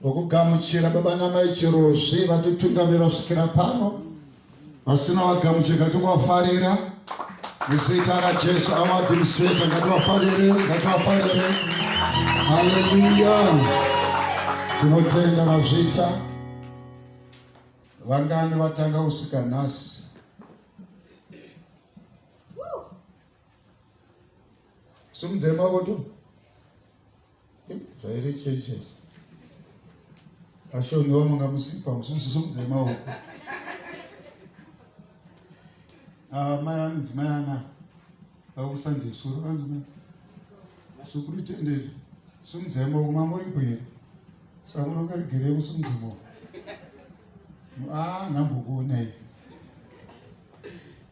Ngokugamuchira baba namai Chirozvi vatitungamira kusvikira pano vasina vagamuchira ngativafarira muzita raJesu avo administrator ngativafarire ngativafarire haleluya tinotenda vazvita vangani vatanga kusvika nhasi Somos irmãos, Zvairi churches. Vashoni wamanga musipa mususu somudzai maoko. Ah, mai anzi mai ana. Vakusandisura vanzi mai. Sukuru tenderi. Somudzai maoko mamuri kwere. Samuro karigere kusumudza maoko. Ah, nambokuona iye.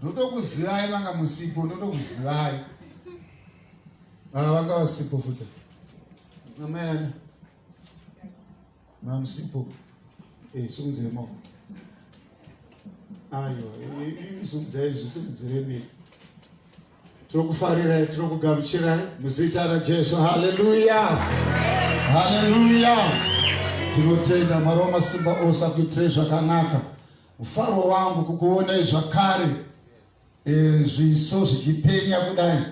Ndotokuzivai manga musipo, ndotokuzivai. Ah, vanga vasipo futi. Amai ana. Mamsipo. Eh, sumudzai maoko. Aiwa, imi sumudzai izvi simudzire miri. Tirokufarirai, tirokugamuchirai muzita raJesu. Haleluya. Haleluya. Tinotenda Mwari wamasimba ose akuitirai zvakanaka. Mufaro wangu kukuonai zvakare. e, zviso zvichipenya kudai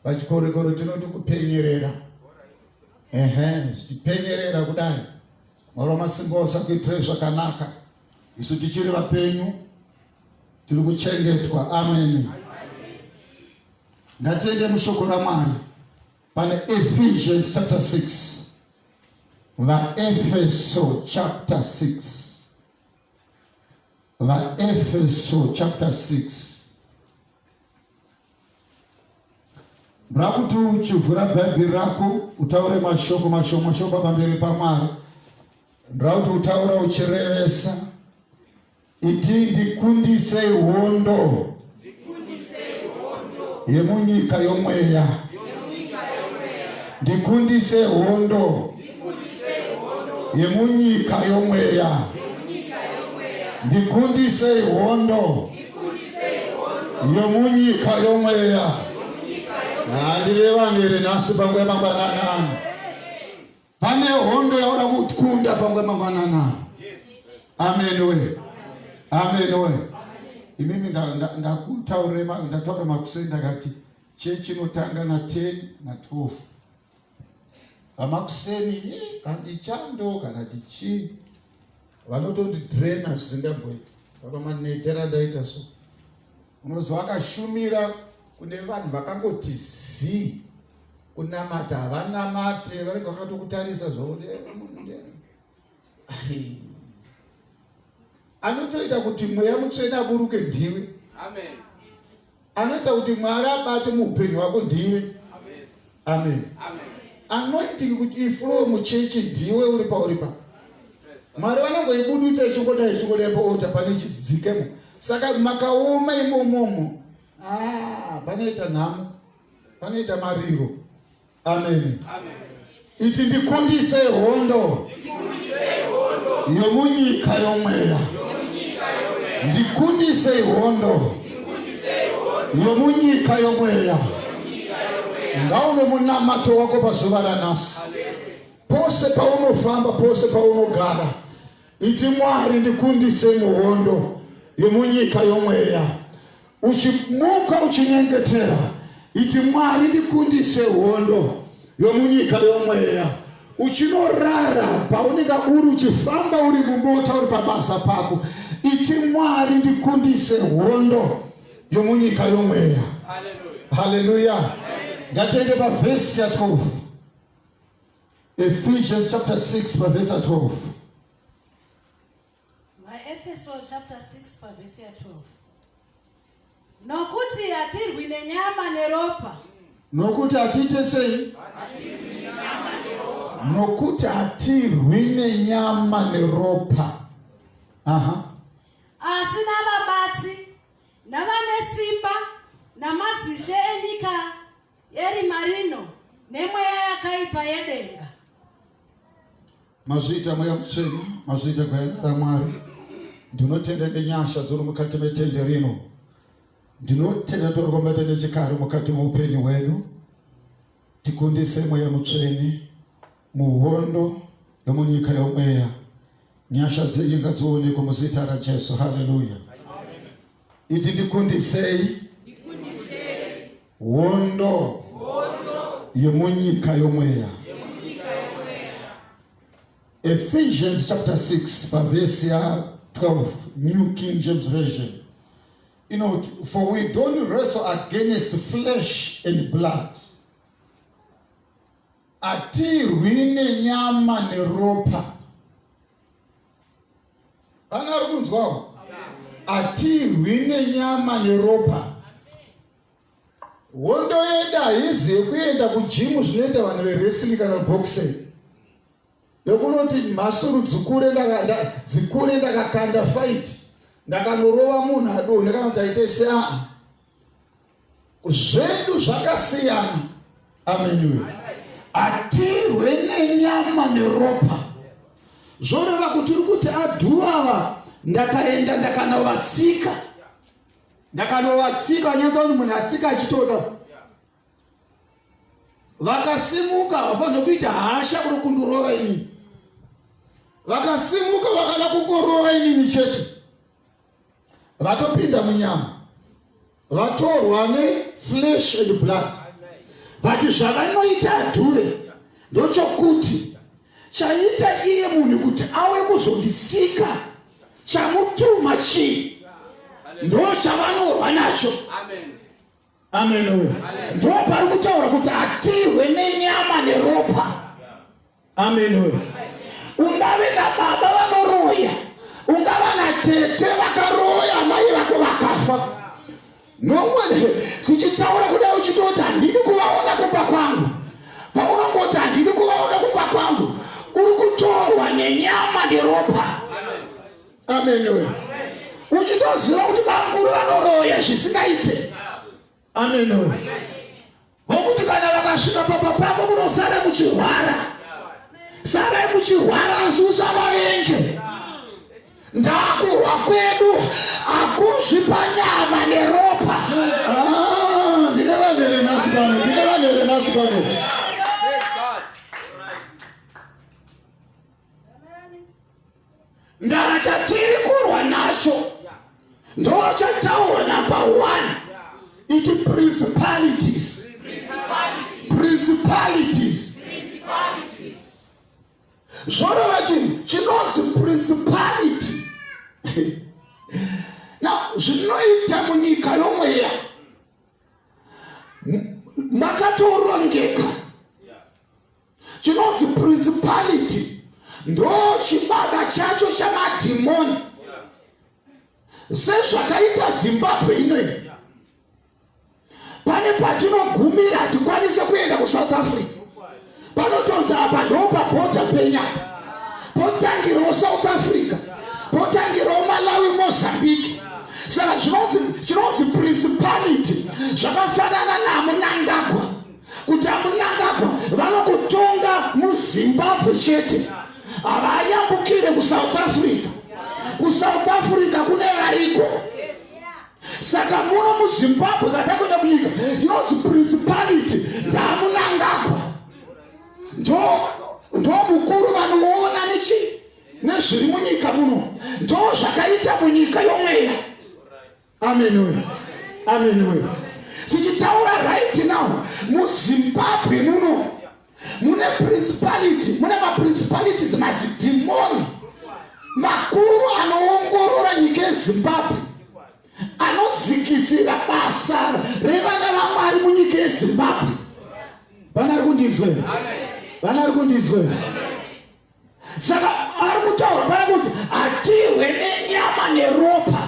pachikorekore tinoti kupenyerera ehe zvichipenyerera kudai mwari wamasimba ose akuitire zvakanaka isu tichiri vapenyu tiri kuchengetwa ameni ngatiende mushoko ramwari pane ephesians chapter 6 vaefeso chapter 6 vaefeso chapter 6 ndoda kuti uchivhura bhaibheri rako utaure mashoko mashoko mashoko pamberi pamwari ndoda kuti utaura uchirevesa iti ndikundisei hondo yemunyika yomweya ndikundise hondo yemunyika yomweya ndikundisei hondo yomunyika yomweya handirevani here nhasi panguva yemangwanana Pane hondo yaoda kukunda pangwe mangwanana. Amen we. Amen we. Imimi ndakutaure ndataura makuseni ndakati chechi inotanga na 10 na 12. Amakuseni eh, kandi chando kana tichi vanotondi drain zvisingamboiti. Baba manetera ndaita so. Unozwa akashumira kune vanhu vakangoti zii kunamata havanamate vanenge vakatokutarisa zvauri anotoita kuti mweya mutsvene aburuke ndiwe anoita kuti mwari abate muupenyu hwako ndiwe amen anointing kuti iflow muchechi ndiwe uri pauri pa mwari vanongoibudutsa ichongodai ichongodai paota pane chidzikemo saka makaoma imomomo ah, panoita nhamo panoita mariro ameni iti ndikundise hondo yomunyika yomweya ndikundisei hondo yomunyika yomweya ngauve munamato wako pazuva ranhasi pose paunofamba pose paunogara iti mwari ndikundise muhondo yomunyika yomweya uchimuka uchinyengetera iti mwari ndikundise hondo yomunyika yomweya uchinorara paunenge uri uchifamba uri mumota uri pabasa pako iti mwari ndikundise hondo yomunyika yomweya haleluya ngatiende pavhesi ya 12 ephesians chapter 6 pavhesi ya 12 Maefeso chapter 6 pavhesi ya 12 nokuti hatirwi nenyama neropa nokuti hatiite sei nokuti hatirwi nenyama neropa aha asi navabati navane simba namadzishe enyika Eri marino nemweya yakaipa yedenga. Mazviita mweya mutsvene, mazviita gwayana raMwari. Ndinotenda nenyasha dziri mukati metende rino. Ndinotenda ndorikombata nechikari mukati moupenyu hwedu. Tikundise mweya mutsvene. Muhondo yomunyika yomweya nyasha dzenyu ngadzionekwe muzita rajesu haleluya iti ndikundisei hondo yemunyika yomweya ephesians chapter 6 pavhesi ya 12 new king james version inoti for we don't wrestle against flesh and blood Hatirwi nenyama neropa. Vana vari kunzwawo? Hatirwi nenyama neropa. Hondo yedu haizi yekuenda kujimu zvinoita vanhu verwrestling kana boxing. yokunoti mhasuru dzikure dzikure ndakakanda fight ndakanorova munhu adonhe kana kuti aite seaa zvedu zvakasiyana amenuwe hatirwe nenyama neropa zvoreva kuti uri kuti adhuava ndakaenda ndakanovatsika ndakanovatsika nyatsa kuti munhu atsika achitoda vakasimuka havafanire kuita hasha kuri kundurova inini vakasimuka vakada kungorova inini chete vatopinda munyama vatorwa neflesh and blood but zvavanoita adhure ndochokuti chaita iye munhu kuti awe kuzondisika chamutuma chii ndo chavanorwa nacho Amen. Amenowe. Ndipo pari kutaura kuti hatihwe nenyama neropa. Amenowe. Ungave nababa vanoroya, ungava natete vakaroya amai vako vakafa. Nomwe tichitaura kudai uchitoti handidi kuvaona kumba kwangu. Paunongoti handidi kuvaona kumba kwangu, uri kutorwa nenyama neropa. ameni we uchitoziva kuti bamukuru vanoroya zvisingaite ameni we vokuti kana vakasvika papa pako munosara muchirwara sarai muchirwara asi usavavenge ndakurwa kwedu akuzvi panyama neropa ah, ndine vanhu here nhasi pano ndine vanhu here nhasi pano ndachatiri kurwa nacho ndochataura number one iti principalities principalities zvorova chinhu chinonzi principality now zvinoita munyika yomweya makatorongeka chinonzi principality ndo chibaba chacho chamadhimoni sezvakaita zimbabwe inoyi pane patinogumira hatikwanise kuenda kusouth africa panotonzi apa ndo pabhodha penyaya potangirawo south africa potangirawo malawi mozambique saka chinonzi principality zvakafanana namunangagwa kuti amunangagwa vanokutonga muzimbabwe chete havayambukire kusouth africa kusouth africa kune variko saka muno muzimbabwe katakuenda munyika inonzi principality ndamunangagwa ndomukuru vanoona nechi nezviri munyika muno ndo zvakaita munyika yomweya amen we amen we tichitaura right now muzimbabwe muno mune principality mune maprincipalities mazidhimoni makuru anoongorora nyika yezimbabwe anodzikisira basa revana vamwari munyika yezimbabwe vana ri kundinzwera vana ri kundinzwera saka ari kutaura pana kuti hatihwe nenyama neropa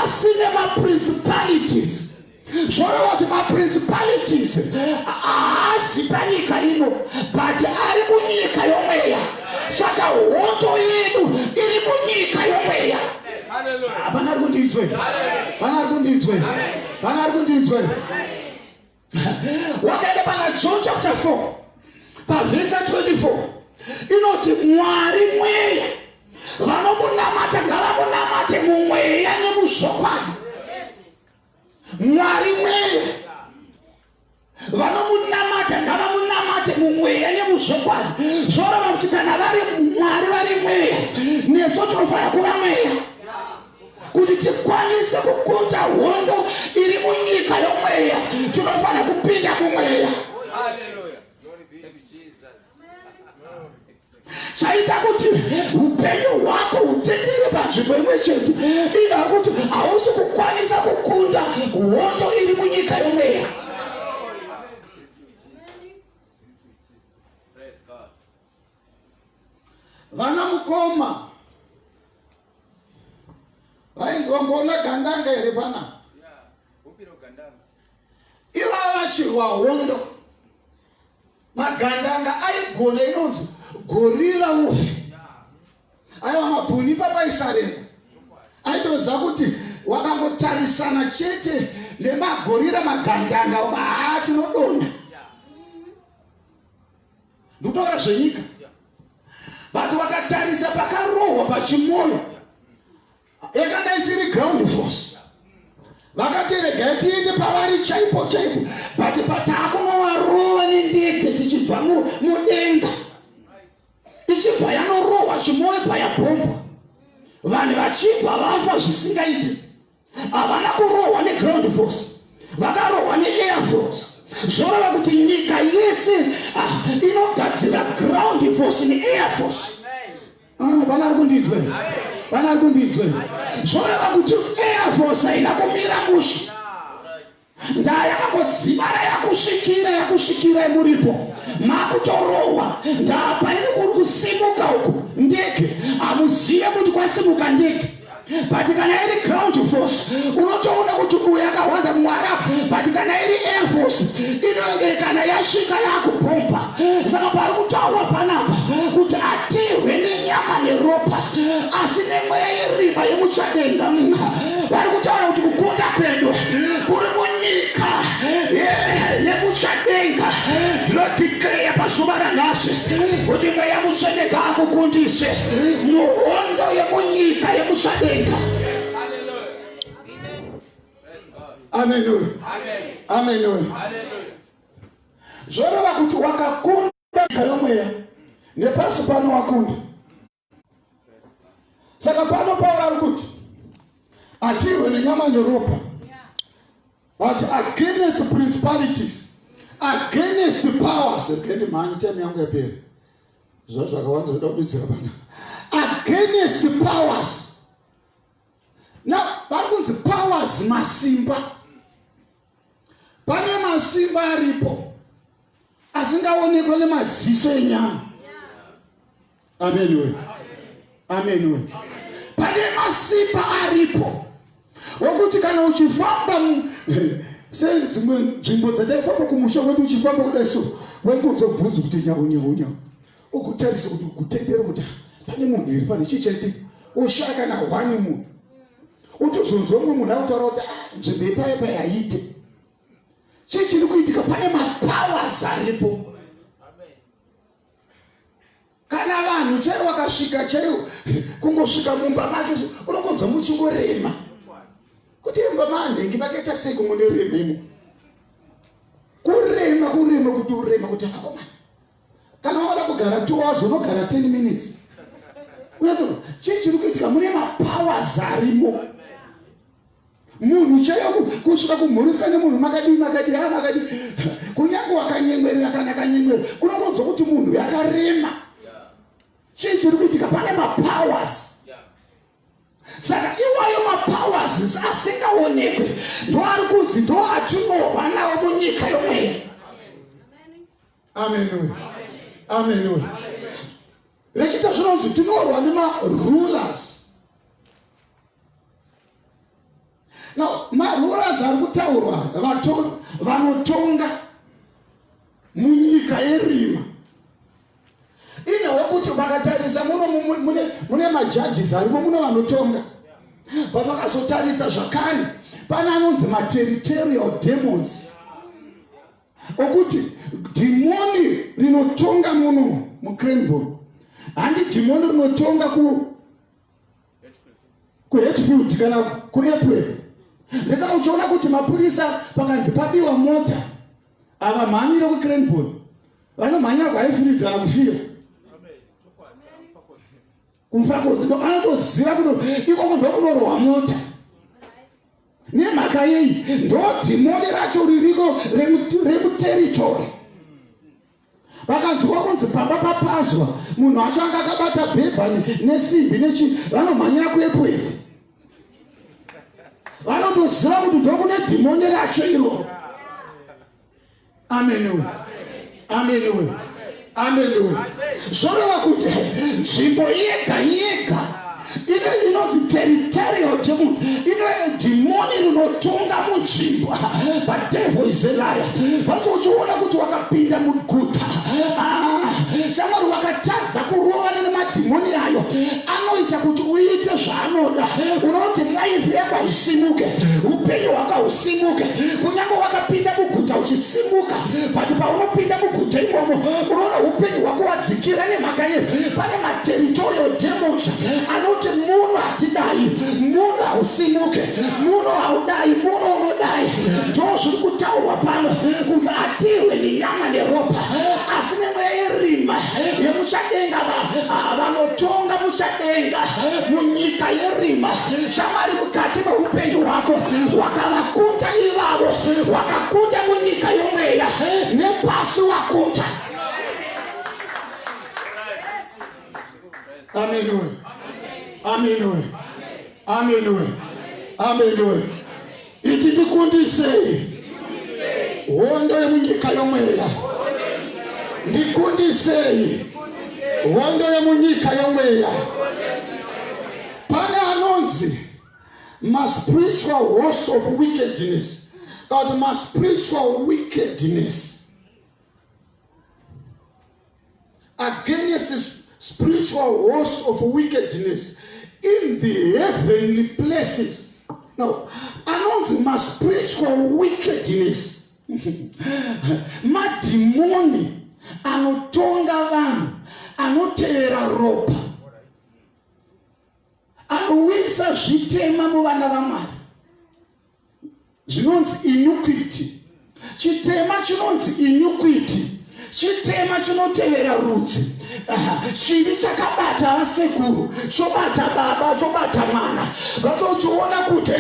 asi nemaprincipalities zvoreva kuti maprincipalities haazi panyika ino but ari munyika yomweya saka hoto yedu iri munyika yomweya hapana ari kundinzwe pana ari kundinzwe pana ari kundinzwe wakaenda pana john chapter 4 pavhesa 24 inoti mwari mweya vanomunamata ngavamunamate mumweya nemuzvokwadi mwari mweya vanomunamata ngavamunamate mumweya nemuzvokwadi zvorova kuti kana vari mwari vari mweya nesu tinofanira kuva mweya kuti tikwanise kukuta hondo iri munyika yomweya tinofanira kupinda mumweya chaita kuti upenyu hwako hutendere panzvimbo imwe chete ina kuti hausi kukwanisa kukunda hondo iri munyika yomweya vana mukoma vainzi vamboona gandanga here pana ivava vachirwa hondo magandanga aigona inonzi gorira ufi aiwa mabhuni papaisarenda aitoziva kuti wakangotarisana chete nemagorira magandanga uma haa tinodonha ndikutaura zvenyika but wakatarisa pakarohwa pachimoyo yakanga isiri ground force vakati regai tiende pavari chaipo chaipo but pataakunovarova nendege tichibva mudenga ichibva yanorohwa chimoyo bva yabhombwa vanhu vachibva vafa zvisingaiti havana kurohwa neground force vakarohwa neair force zvoreva kuti nyika yese ah, inogadzira ground force neair force ah, vana ari kundinzwe vana ari kundinzwe zvoreva kuti air force haina kumira mushe Ndaa yakangodzimara yakusvikira yakusvikirai muripo makutorohwa ndaa paine kuri kusimuka uku ndege hamuzive kuti kwasimuka ndege but kana iri ground force unotoona kuti uyu akahwanda mwara but kana iri air force inonge kana yasvika yakubhomba saka pari kutaurwa panapa kuti atirwe nenyama neropa asi nemweya yeriba yemuchadenga vari kutaura kuti kukunda kwedu kuri munyika yemuchadenga ndinodikleya pazuva ranhasi kuti mweya mucheneka akukundise muhondo yemunyika yemuchadenga Amen. Amen. Amen. Amen. zvoreva kuti wakakunda nyika yomweya nepasi pano wakunda saka pano pauro ari kuti atirwe nenyama neropa but against principalities against powers rikendi mhanyi time yangu yaperi zva zvakawanza zvoda kududzira pana against powers now vari kunzi powers masimba Pane masimba aripo asingaonekwa nemaziso enyama. Amen we. Amen we. Pane masimba aripo okuti kana uchifamba sedzimwe nzvimbo dzataifamba kumusha kwedu uchifamba kudai so waingozobvunzi kuti nyau nyau nyau ukutarisa kuti kutendera kuti pane munhu here pane chii chaitika oshaya kana hwani munhu otozonzwa mumwe munhu akutaura kuti ah, nzvimbo yepaye paye haite chii chiri kuitika pane mapowers aripo kana vanhu chaivo vakasvika chaivo kungosvika mumba make unongonzwa muchingorema kuti imba manhengi vakaita sei kumwe nerema imo kurema kurema kuti urema kuti akakomana kana wakada kugara two hours unogara 10 minutes unatsoo chii chiri kuitika mune mapowers arimo munhu chaiyo kusvika kumhurisa nemunhu makadii makadii a ah, makadii kunyange wakanyemwerera kana kanyemwero unokonzwa kuti munhu yakarema chii chiri kuitika pane mapowers saka iwayo mapowers asingaonekwe ndoari kunzi ndoatinova nawo munyika yomweya amenoe amenoe rechita zvinonzi tinorwa nemarulers no marulers ari kutaurwa vanotonga munyika yerima ine wekuti vakatarisa muno mune majudges arimo muno vanotonga vavakazotarisa zvakare pane anonzi materitorial demons okuti dhimoni rinotonga muno mucranbor handi dhimoni rinotonga kuhetfield kana kuapwel ndesaka uchiona kuti mapurisa pakanzi pabiwa mota ava mhanyire kucranbor vanomhanyira kwaifiridzana kufira kumfakozido anotoziva kuno ikoko ndokunorohwa mota nemhaka yei ndodhimoni racho ririko remuteritori vakanzwa kunzi pamba papazwa munhu acho anga akabata bhebhani nesimbi nechi vanomhanyira kuepwevi vanotoziva kuti ndokune dhimoni racho iroro ameniwe ameniwe ameniwe zvoreva kuti nzvimbo yega yega ine inonzi territorial demon ine dhimoni rinotonga munzvimbo the devil is a liar vanzi uchiona kuti wakapinda muguta ah, shamwari wakatadza kurovana nemadhimoni ayo anoita kuti uite zva anoda unoti life yako isimuke upenyu hwaka usimuke kunyange wakapinda muguta uchisimuka but paunopinda muguta imomo unoona upenyu hwako wadzikira nemhaka ye pane materitorial demons anoti muno hatidai muno hausimuke muno haudai muno unodai ndo zviri kutaurwa pano kunzi atirwe nenyama neropa asi nemweya yerima yemuchadenga vanotonga mucha denga munyika yerima shamwari mukati meupenyu hwako wakavakunda ivavo wakakunda munyika yomweya nepasi wakunda amenoe amenoe amenoe amenoe iti ndikundisei hondo yemunyika yomweya ndikundisei hondo yemunyika yomweya pane anonzi maspiritual horse of wickedness kana kuti maspiritual wickedness against spiritual horse of wickedness in the heavenly places no anonzi maspiritual wickedness madhimoni anotonga vanhu anotevera ropa anouyisa zvitema muvana vamwari zvinonzi inyukwiti chitema chinonzi inyukwiti chitema chinotevera rudzi chivi chakabata vasekuru chobata baba chobata mwana vatochiona kuti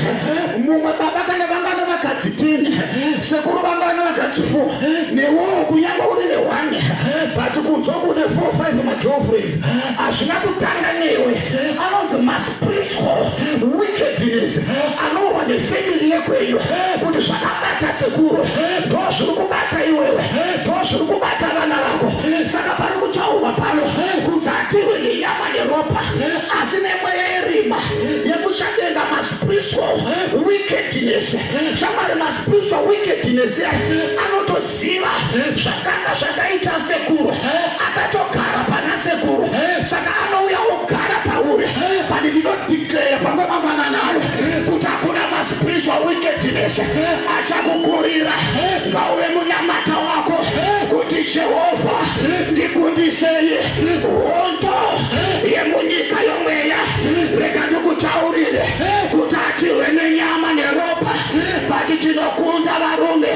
mumwe baba kana vangana vakadzi tini sekuru vangana vakadzi fo newowo kunyanga uri nehwane but kunzwa kune fo five magirlfriends hazvina kutanga newe anonzi mas wickedness anohwa nefamily yekwenyu kuti zvakabata sekuru ndozviri kubata iwewe ndozviri kubata vana vako saka pari kutaurwa pano kudzatirwe nenyama neropa asi nemweya yerima yekuchadenga maspiritual wickedness shamari maspiritual wickedness anotosi Ziva zvakanga zvakaita sekuru akatogara pana sekuru saka anouya ogara pauri pani ndinodeclare pamwe mamananalo kuti hakuna maspiritual wickedness achakukurira ngauve munamata wako kuti jehovha ndikundisei hondo yemunyika yomweya rega ndikutaurire kuti hatirwe nenyama neropa but tinokunda varume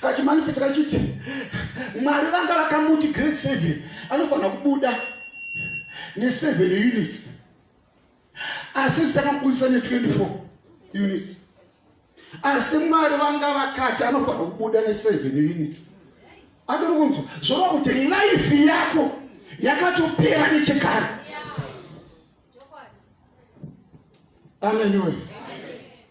kachimanifesta kachiti mwari vanga vakamuti grade seven anofanira kubuda neseven units asi sitakamubudisa ne24 units asi mwari vanga vakati anofanira kubuda neseven units adori kunzwa zvoreva kuti life yako yakatopera nechekare ameniwe yeah.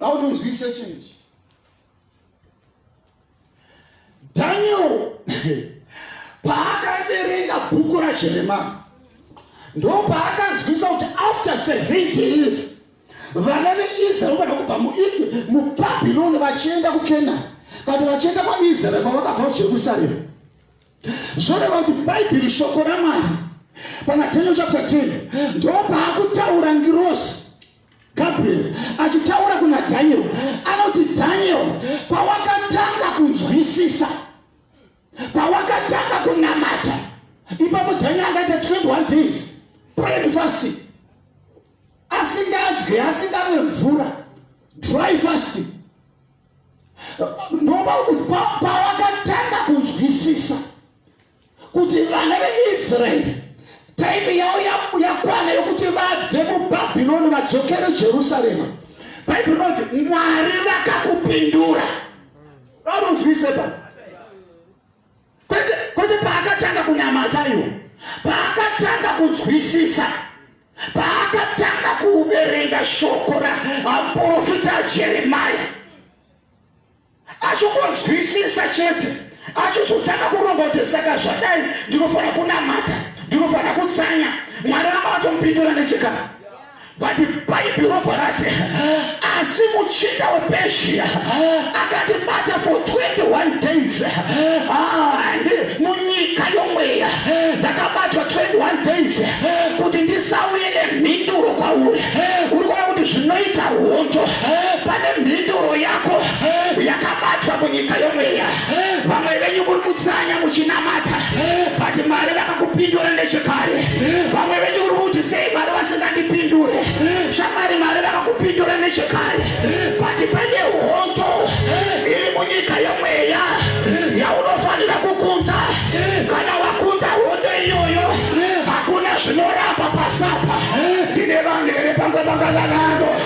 How do we say change? Daniel paakaverenga bhuku rajeremani ndo paakanzwisa kuti after 70 years vana veisraeri vada kubva mubhabhironi vachienda kukenani kati vachienda kwaisraeri kwavakabva kujerusaremu zvoreva kuti bhaibheri shoko ramwari pamatenyo chapta 10 ndopaakutaura ngirosi gabriel achitaura kuna dhaniel anoti dhaniel pawakatanga kunzwisisa pawakatanga kunamata ipapo dhaniel akaita 21 days prayed fasting asingadye asingamwe mvura dry fasting ndoba kuti pavakatanga kunzwisisa kuti vana veisraeri taimi yavo yakwana yokuti vabve mubhabhironi vadzokere jerusarema bhaibheri rinoti mwari vakakupindura vanonzwise pa kwete kwete paakatanga kunamata iwo paakatanga kunzwisisa paakatanga kuverenga shoko raprofita jeremaya achikonzwisisa chete achizotanga kuronga kuti saka zvadai ndinofanira kunamata ndinofanira kutsanya mwari vanga vatomupindura nechekana vati bhaibhiro varati asi muchinda wepeshiya akandibata for 21 days and munyika yomweya ndakabatwa 21 days kuti ndisauye nemhinduro kwauri uri kuona kuti zvinoita hondo pane mhinduro yako yakabatwa munyika yomweya vamwe venyu muri kutsanya muchinamata but mwari vakakupindura nechekare vamwe venyu uri kuti sei mwari vasingandipindure shamwari mwari vakakupindura nechekare but pane hondo iri munyika yemweya yaunofanira kukunda kana wakunda hondo iyoyo hakuna zvinoramba pasapa ndine vanhu here pange vanga vanano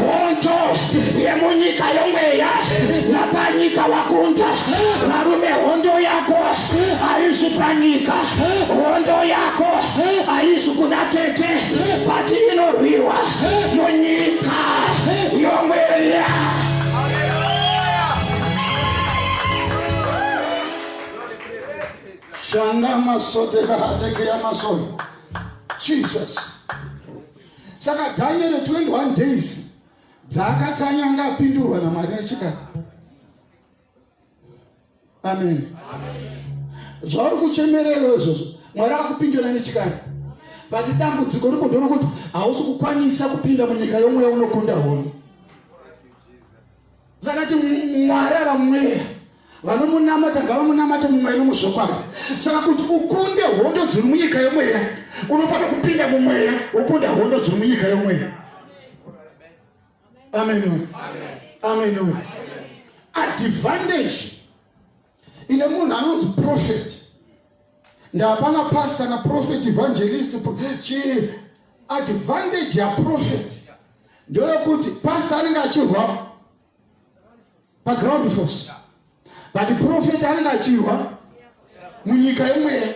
hondo yemunyika yomweya napanyika wakunda varume hondo yako haisi panyika hondo yako haisi kuna tete pati inorwirwa munyika yomweya shanda masote kahatekeya masoyo jesus saka daniel 21 days dzaakatsanya anga apindurwa namwari nechika amen zvauri kuchemerero izvozvo mwari akupindura nechikari vati dambudziko rikodo rokuti hausi kukwanisa kupinda munyika yomweya unokunda hono Zakati Mwari ava mweya vanomunamata ngavamunamate mumweya nomuzvokwadi saka kuti ukunde hondo dziri munyika yomweya unofanira kupinda mumweya wokunda hondo dziri munyika yomweya amen amen advantage ine munhu anonzi profeti ndapana pasta na profeti evangelist chi advantage yaprofeti ndeyokuti pasta anenge achirwa paground force but profeti anenge achirwa munyika yemweya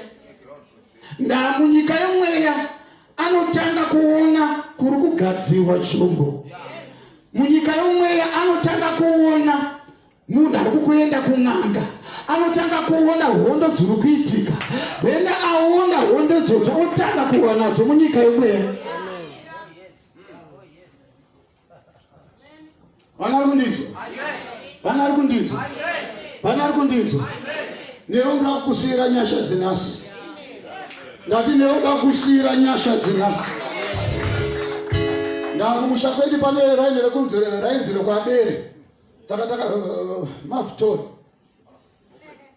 ndamunyika yemweya anotanga kuona kuri kugadzirwa chombo munyika yomweya anotanga kuona munhu ari kukuenda kun'anga anotanga kuona hondo dziri kuitika then aona hondo idzodzo otanga kuhwa nadzo munyika yemweya vana ari kundinzwa vana ari kundinzwa vana ari kundinzwa newe nda kukusiyira nyasha dzinasi ndati newe nda kukusiyira nyasha dzinasi ndakumusha kwedu pane raini rekunzi rainzi rekwabere takataka uh, uh, uh, mafutori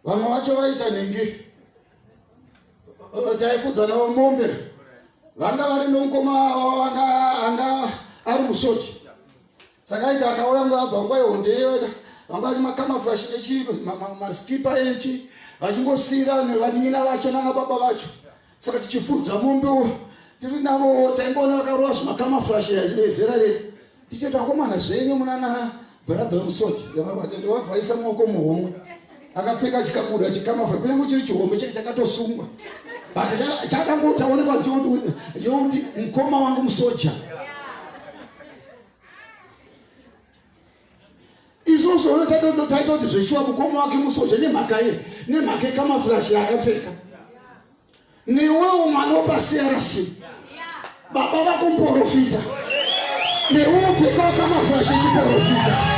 vamwe vacho vaita nhingi taifudza navo mombe vanga vari nomukoma anga anga ari musochi saka aita akauya nguva abva nguva ihondeyoita vanga vari makamafurashi nechi maskipa echi vachingosiyira nevaning'ina vacho nanababa vacho saka tichifudza mombewo tiri navo taingoona vakarova zvimakamaflashe achive zera redu tichiti akomana zvenyu munana bharadha vemusoja ndovabvaisa maoko muhomwe akapfeka chikabuda chikamafla kunyange chiri chihombe chake chakatosungwa but chakangotaonekwa chekuti mukoma wangu musoja izvozvo unotaita kuti zveshuwa mukoma wake musoja nemhaka ye nemhaka yekamafurashi yaakapfeka newewo mwana wepacrc baba vako muporofita neuwo pfekawo kamafurashi echiporofita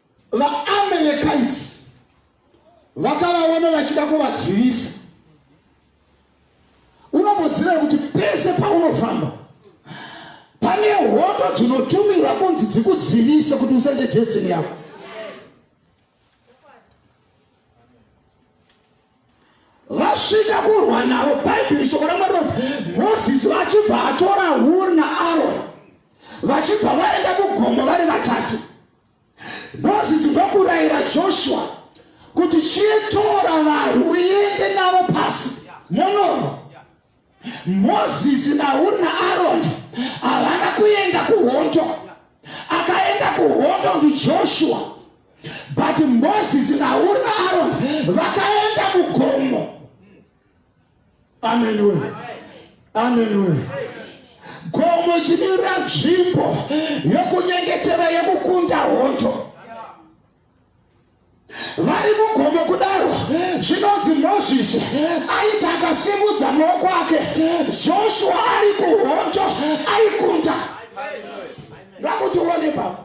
VaAmelekaiti vakavaona vachida kuvadzivisa. Unomboziva kuti pese paunofamba pane hondo dzinotumirwa kunzi dzikudzivise kuti usende destiny yako. vasvika kurwa navo bhaibheri shoko ramwari roti mozisi vachibva atora huri naaroni vachibva vaenda kugomo vari vatatu Mozisi ndokurayira Joshua kuti chitora vanhu uende navo pasi monorwa. Mozisi naHuri naAroni havana kuenda kuhondo. Akaenda kuhondo ndiJoshua, but Mozisi naHuri naAroni vakaenda mugomo. Amen we. Amen we. Gomo chinira nzvimbo yokunyengetera yekukunda hondo. Vari mugomo kudaro zvinonzi Moses aita akasimudza maoko ake Joshua ari kuhondo aikunda. Ngakuti uone baba.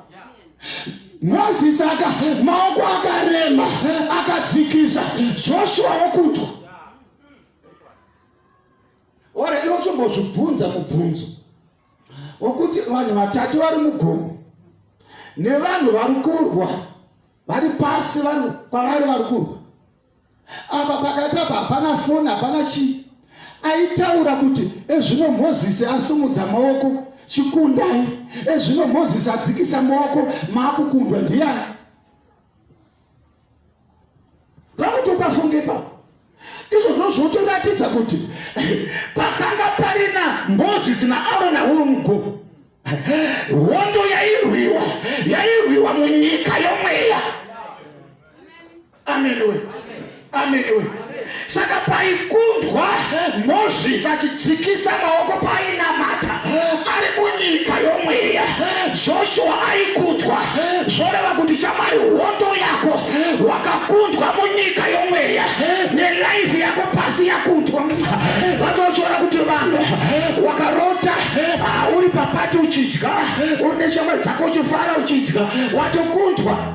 Moses aka maoko akarema akadzikisa Joshua wokutwa ore ivo chombozvibvunza mubvunzo wokuti vanhu vatatu vari mugomo nevanhu vari kurwa vari pasi vanhu kwavari vari kurwa apa pakati apa hapana foni hapana chii aitaura kuti ezvino mozisi asumudza maoko chikundai ezvino mozisi adzikisa maoko maakukundwa ndiyani panotopafungepa izvo ndozvotoratidza kuti pakanga parina mozisi naarona womgo hondo yairwiwa yairwiwa munyika yomweya ameniwe ameniwe saka paikundwa mozisi achidzikisa maoko painamata ari munyika yomweya joshua aikundwa zvoreva kuti shamari hondo yako wakakundwa munyika yomweya nelaifi yako pasi yakundwa vatochora kuti vanhu wakarota ah, uri papati uchidya uri neshamari dzako uchifara uchidya watokundwa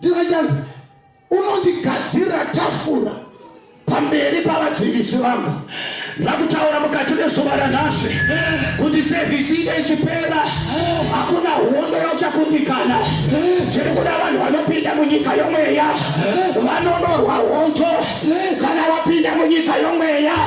Ndikachati unondigadzirira tafura pamberi pavadzivisi vangu ndakutaura mukati mezuva ranhasi kuti sevhisi ine ichipera hakuna hondo yochakundikana tiri kuda vanhu vanopinda munyika yomweya vanonorwa hondo kana wapinda munyika yomweya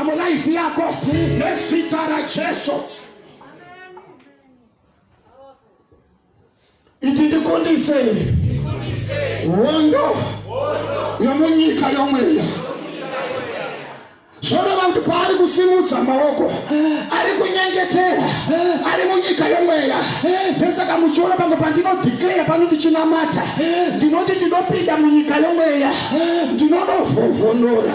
mulife yako nezita rajesu iti ndikundisei hondo yomunyika yomweya zvoreva kuti paari kusimudza maoko ari kunyengetera ari munyika yomweya ndosaka muchiona pange pandinodeclare pano ndichinamata ndinoti ndinopinda munyika yomweya ndinonovhovhonora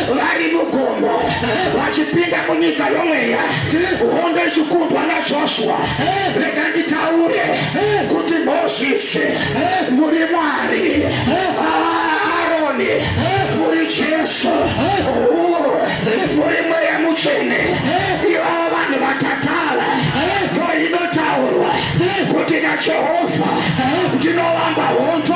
vari mugomo vachipinda munyika yomweya hondo ichikundwa najoshua rega nditaure kuti mozisi muri mwari aroni muri jesu muri mweya mutsvene ivavo vanhu vatatala ndo inotaurwa kuti najehovha ndinovamba hondo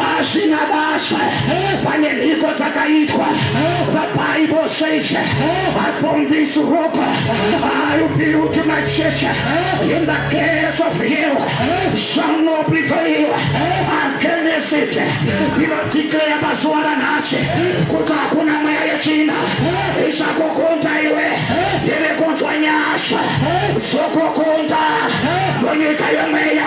hazvina basa pane mhiko dzakaitwa the bible says upon this rock i will build my church in the gates of hell shall not prevail against it ndinodeclare mazuva ranhasi kuti hakuna mweya yechina ichakukonda iwe ndiri kunzwa nyasha zokukonda munyika yemweya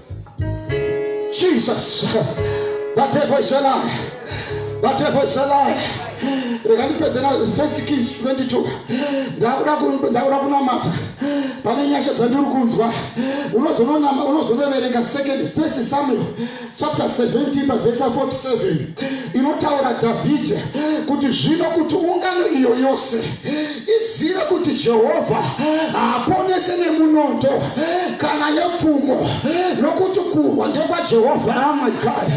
Jesus, the devil is a lie. The devil is a lie. rega ndipedze na first kings 22 ndakuda kunamata pane nyasha dzandiri kunzwa unozonoverenga second first samuel chapter 17 pavhesa 47 inotaura dhavhidhi kuti zvino kuti ungano iyo yose Iziva kuti Jehovha haaponese nemunondo kana nepfumo nokuti kurwa ndekwaJehovha. Oh my God!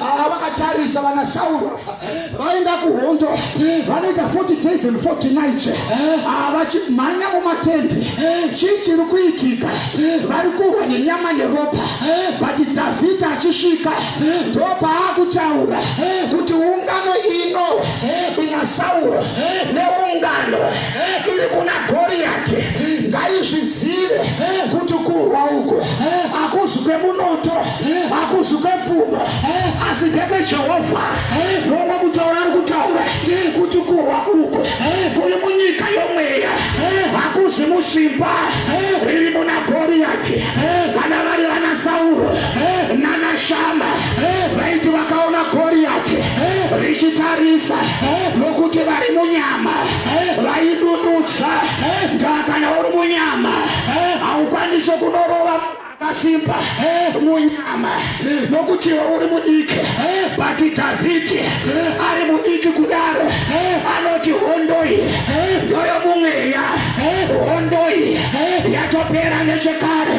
Ava vakatarisa vana Sauro vaenda kuhondo vanoita 40 days and 40 nights havachimhanya ah, mumatende chii chiri kuitika vari kurwa nenyama neropa but dhavhidha achisvika ndopaakutaura kuti ungano ino ina sauro neungano iri kuna goriyati ngaizvizive kuti kurwa uku akuzi kwemunoto akuzi kwepfuma asi ndekwejehovha nongo kutaura ari kutaura kuti kurwa uku kuri munyika yomweya hakuzi musimba riri muna goriyati kana vari vana sauro nanashama vaiti vakaona goriyati richitarisa nokuti vari munyama vaidudutsa ndaa kana uri munyama haukwanisi kunorova akasimba munyama nokuti iwe uri mudiki bati dhavhidhi ari mudiki kudaro anoti hondoi ndoyo mumweya hondoi yatopera nechekare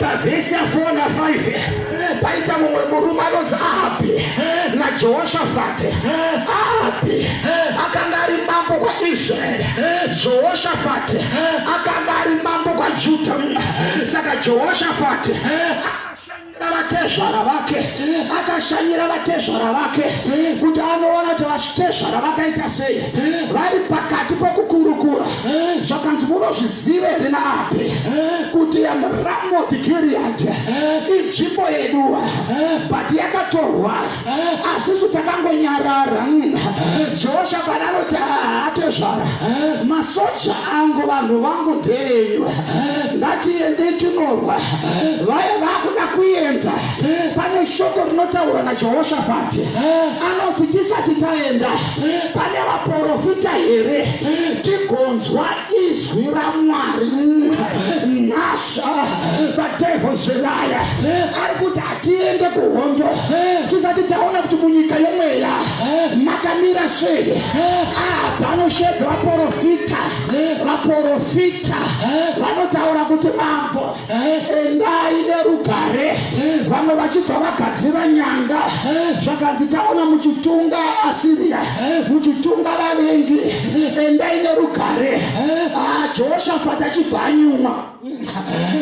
pavhesi ya4 na 5 paita mumwe murume anonzi ahabhi najehoshafati ahabhi akanga ari mambo kwaisraeri jehoshafati akanga ari mambo kwajudha saka jehoshafati vatezvara vake akashanyira vatezvara vake kuti anoona kuti vatezvara vakaita sei vari pakati pokukurukura zvakanzi munozvizive here naapi kuti ramoti giriyadhi inzvimbo yeduwa but yakatorwa asi isu takangonyarara mm. jehoshafati anoti haatezvara masoja angu vanhu vangu ndevenyu ngatiendei tinorwa vaye vakuda kuenda pane shoko rinotaurwa najehoshafati anoti tisati taenda pane vaprofita here tigonzwa izwi ramwari mm. nasha the devils liar ari kuti tiende kuhondo tisati taona kuti munyika yomweya makamira sei panoshedza vaporofita vaporofita vanotaura kuti mambo endai nerugare vamwe vachibva vagadzira nyanga zvakanzi taona muchitunga asiriya muchitunga vavengi endai nerugare jehoshafati achibva anyumwa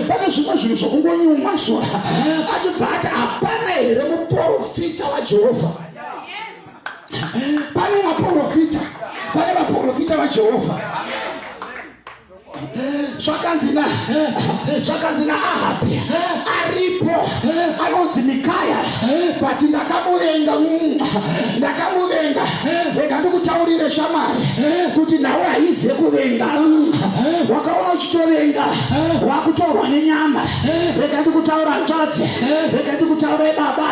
pane zvimwe zvinhu zvokungonyumwa zuva achibva ati hapana here muprofita wajehovha pane maprofita pane vaprofita vajehovha zvakanzi na zvakanzi naahabhi aripo anonzi mikaya but ndakamuvenga mm, ndakamuvenga rega ndikutaurire shamwari kuti nhau haize kuvenga wakaona uchitovenga wakutorwa nenyama rega ndikutaura hanzvadzi rega ndikutaure baba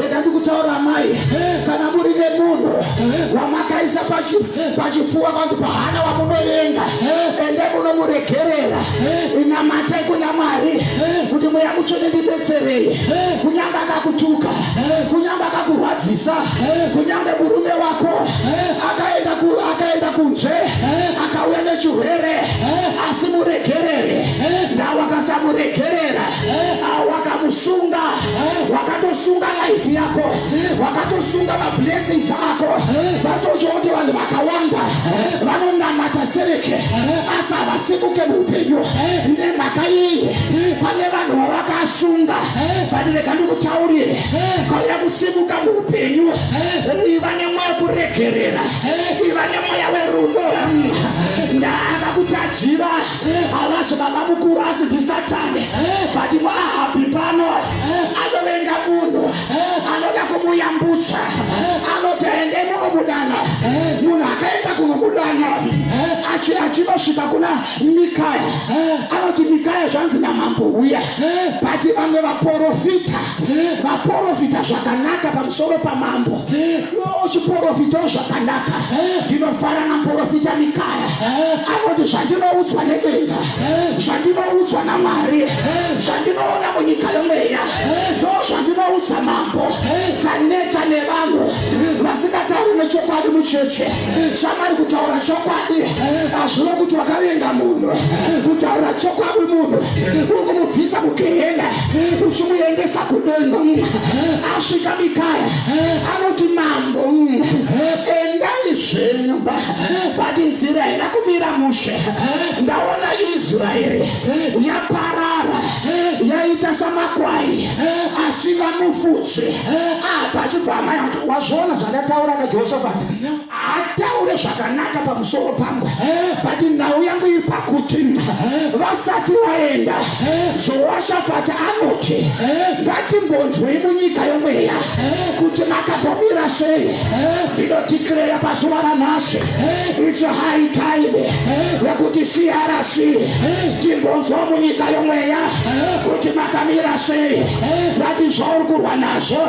rega ndikutaura mai kana muri nemunhu wamakaisa pachipfuwa kwanti pahana wamunovenga ende munomuregerera inamatai kuna mwari kuti mweya mutsvene ndibetserei kunyamba akakutuka kunyamba akakurwadzisa eh, kunyange murume wako eh, akaenda ku, akaenda kunze eh, akauya nechirwere eh, asi muregerere eh, ndawakasamuregerera eh, wakamusunga eh, wakatosunga life yako eh, wakatosunga mablessings ako eh, that's also what vanhu vakawanda eh, vanonamata sereke eh, asi havasimuke muupenyu eh, nemhaka iyi eh, pane vanhu vavakasunga eh, but rega ndikutaurire eh, kaira kusimuka upenyu iva nemweya kuregerera iva nemweya werudo ndaakakutadziva havazi baba mukuru asi ndisatani but mwahabhi pano anovenga munhu anoda kumuyambutsa anoti ende munomudana munhu akaenda kunomudana achinosvika kuna mikaya anoti mikaya zvanzi namambo uya but vamwe vaporofita vaprofita zvakanaka pamusoro pamambo uchiprofitawo zvakanaka ndinofara naprofita mikaya anoti zvandinoudzwa nedenga zvandinoudzwa namwari zvandinoona munyika yomweya ndo zvandinoudza mambo taneta nevanhu vasingatauri nechokwadi mucheche chamari kutaura chokwadi azvive kuti wakavenga munhu kutaura chokwadi munhu uri kumubvisa kugehena uchimuendesa kudenga asvika mikaya anoti mambo endai zvenyu but nzira haina kumira mushe ndaona israeri yaparara yaita samakwai asi vamufudzi apa achibva amai wazviona zvandataura kajehoshafati ataure zvakanaka pamusoro pangu but nhau yangu iri pakuti vasati vaenda zvoashafati anoti ngatimbonzwei munyika yomweya kuti makambomira sei ndinotikireya pazuva ranhasi its high time yekuti crc timbonzwa munyika yomweya kuti makamira sei vati zvauri kurwa nazvo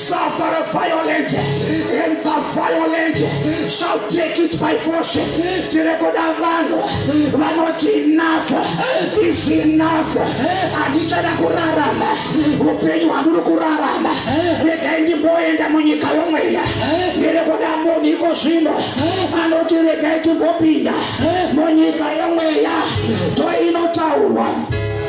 suffer a violent and the violent shall take it by force tiri kuda vanhu vanoti enough is enough handichada kurarama upenyu hwandiri kurarama regai ndimboenda munyika yomweya ndiri kuda munhu iko zvino anoti regai timbopinda munyika yomweya to inotaurwa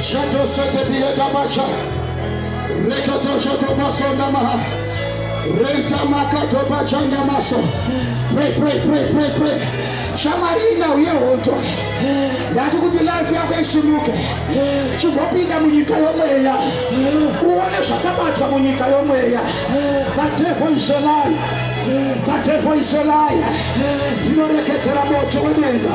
Shatosetebiyedabacha, rekotoshotomasondamaha, rentamakatobachandamaso. Pray, pray, pray, pray, pray. Shamarina uye hondo ndati kuti life yako isimuke chimbopinda munyika yomweya uone zvakabatwa munyika yomweya the devil is alive the devil is alive ndinorekedzera moto wedenga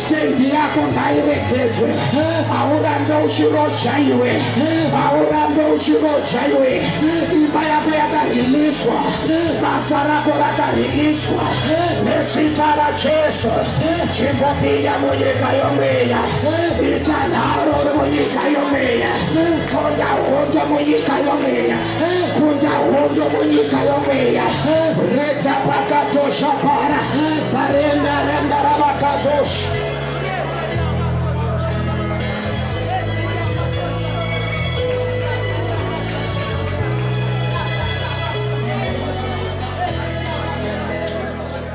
Stendi yako ngairegedzwe, haurambe uchiroja iwe, haurambe uchiroja iwe. Imba yako yakariliswa, basa rako rakariliswa nezita raJesu. Chimbopinda munyika yomweya, ita nharo uri munyika yomweya, tonda hondo munyika yomweya. kunda hondo munyika yomweya reta pakatosha para parenda renda ravakatosha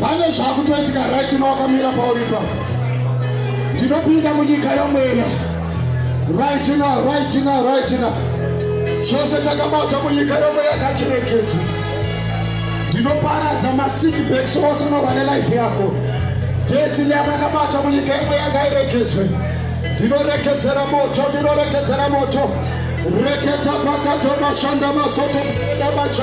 pane zvakutoitika right uno wakamira pauripa ndinopinda munyika yomwena right now right now right now chose chakabatwa munyika yomweya kachirekedzi ndinoparadza masikbaks ose unorwa nelife yako destiny yakakabatwa munyika yomweya ngairekedzwe ndinorekedzera moto ndinorekedzera moto reketa pakadoma shanda masoto edabacha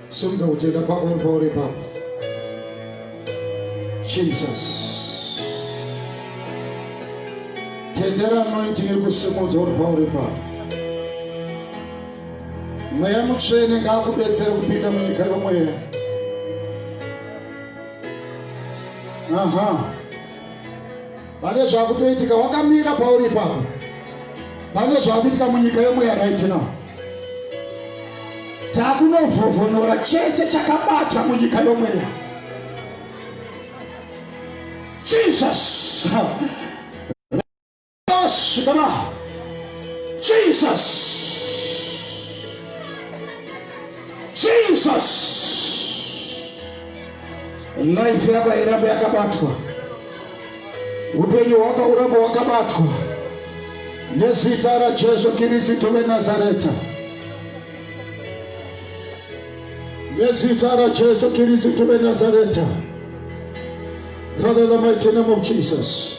Simudza kutenda kwako uri pauri ipapo. Jesus. Tendera anointing iri kusimudza uri pauri ipapo. Mweya mutsvene ngaakubetsere kupinda munyika yomweya. Aha. Uh -huh. pane zvakutoitika wakamira pauri ipapo pane zvakuitika munyika yemweya right now takunovhovhonora chese chakabatwa munyika yomweya jesus Jesus. Jesus. Life yako irambe yakabatwa. Upenyu wako urambe wakabatwa. Nezita la Jesu Kristo wa Nazareta. Nezita la Jesu Kristo wa Nazareta. Father, the mighty name of Jesus.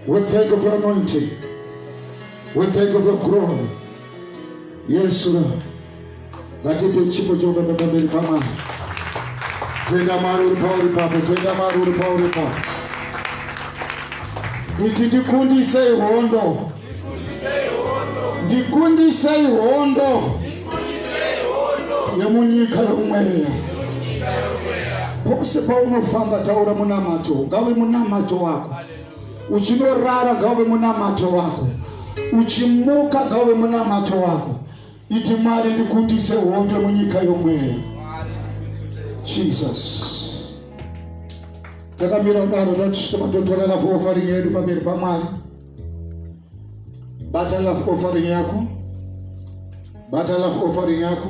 We thank you for anointing. We thank you for glory. Yes, Lord. Ngatipe chipo chokubeba pamberi paMwari. Tenda Mwari uri pauri papo. Tenda Mwari uri pauri papo. Iti ndikundisei hondo. ndikundisei hondo yemunyika yomweya pose paunofamba taura munamato ngave munamato wako uchinorara ngave munamato wako uchimuka ngave munamato wako iti mwari ndikundise hondo munyika yomweya jesus takamira kudaro tatitomatotorana fofarinyedu pamberi pamwari Bata love offering yako. Bata love offering yako.